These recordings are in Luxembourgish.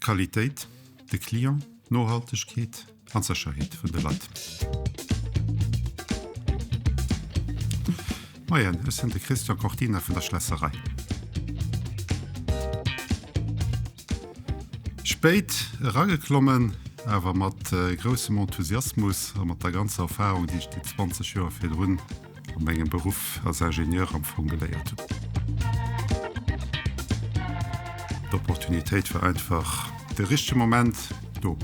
Qualitéit, de Client, Nohaltegkeet an d'Sécherheet vun de Leit. Moien, ech sinn de Christian Cortina vun der Schlässerei. Spéit erageklommen, awer mat groussem Enthusiasmus a mat der ganzer Erfarung, déi ech déi 20 Joer virdrun a mengem Beruff als Ingenieur am Fong geléiert hunn. D'Opportunitéit war einfach de richtege Moment do.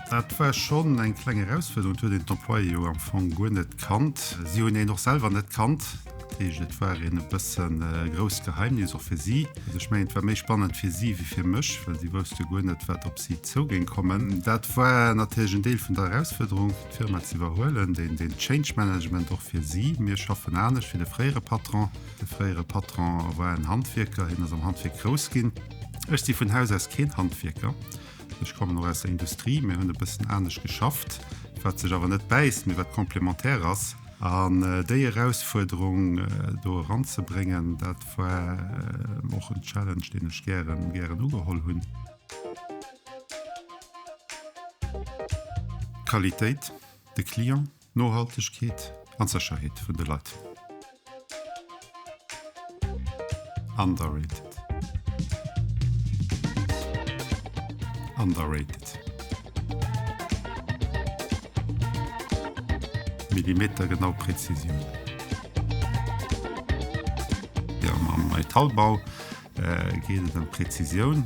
Dat war schonn eng kleng Erausfuerderung, et huet een d'Employéë jo am Fong guer net kannt, si hunn een och selwer net kannt. Et war een e bëssen e grousst Geheimnis och fir si. Also ech mengen, et war méi spannend fir si wéi fir mech, well si wousst jo guer net, wat op si zou géing kommen. Dat war natierlech en Deel vun der Erausfuerderung, fir d'Firma ze iwwerhuelen, deen den Change Management och fir si. Mir schaffen anescht wéi de fréiere Patron. De fréiere Patron war en Handwierker, hien ass am Handwierk grouss ginn. Ech si vun Haus aus keen Handwierker. Ech kommen och aus der Industrie, mir hunn e bëssen anescht geschafft, wat sech awer net bäisst, mee wat komplementär ass. An déi Erausfuerderung do eranzebréngen, dat war och en Challenge, deen ech gären, gären ugeholl hunn. D'Qualitéit, de Client, Nohaltegkeet an d'Sécherheet vun de Leit. Underrated. Underrated. Millimetergenau Präzisioun. Mam Metallbau geet et ëm Präzisioun.